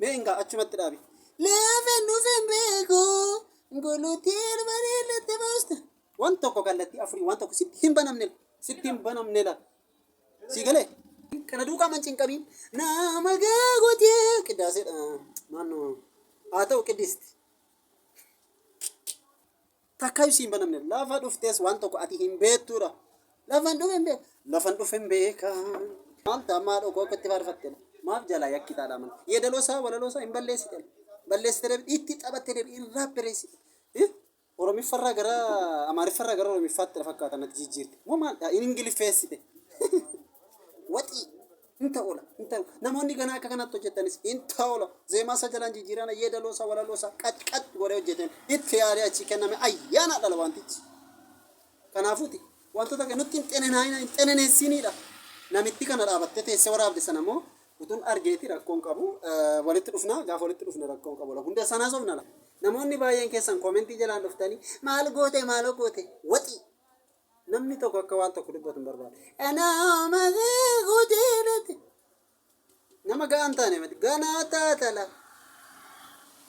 Mee ingaa achumatti dhaabi. Lafa nuuf hin beeku gulutii arbaree latte baaste. Waan tokko kallattii afurii waan tokko sitti hin banamne sitti hin banamne la. Sii galee. Kana duukaa man cinqabiin nama gaagotee qidaaseedha. Maannoo haa ta'u qiddisti. Takkaayu si hin banamne. Lafa dhuftees waan tokko ati hin beektuudha. Lafan dhufe hin beeku. Lafan dhufe hin beeka. Maal ta'a maal dhokoo akka itti faarfatte. Maaf jalaa yakki taadha mana. Yeedaloo isaa walaloo isaa hin balleessite. Balleessite deebi itti taphatte deebi hin raappereessite. Eh? Oromiffarraa gara Amaariffarraa gara Oromiffaatti na fakkaata natti jijjiirte. Moo maal ta'a hin ingiliffeessite. Waxii. Hin ta'ula hin ta'u namoonni ganaa akka kanatti hojjettanis hin ta'ula zeemaa isaa jalaan jijjiirana yeedaloo isaa walaloo isaa qac qac godhee hojjeteen itti yaadee achii kenname ayyaanaa dhala wantichi kanaafuuti wantoota akka nutti hin xenenaayina hin xeneneessiiniidha namitti kana dhaabattee teessee waraabde sana immoo utuun argeeti rakkoon qabu eh, walitti dhufna gaafa walitti dhufne rakkoon qabu la hunda sanaa sobna la namoonni baay'een keessan koomentii jalaan dhuftanii maal goote maaloo goote waxii Namni tokko akka waan tokko dubbatu hin barbaadu. Anaama seekuu jaalate. Nama ga'aa hin taane mati. Ganaa taatala.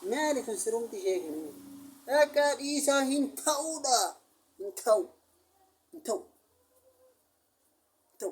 Maali kun sirumti ishee kun? Akka dhiisaa hin ta'uudha. Hin ta'u. Hin ta'u. Hin ta'u.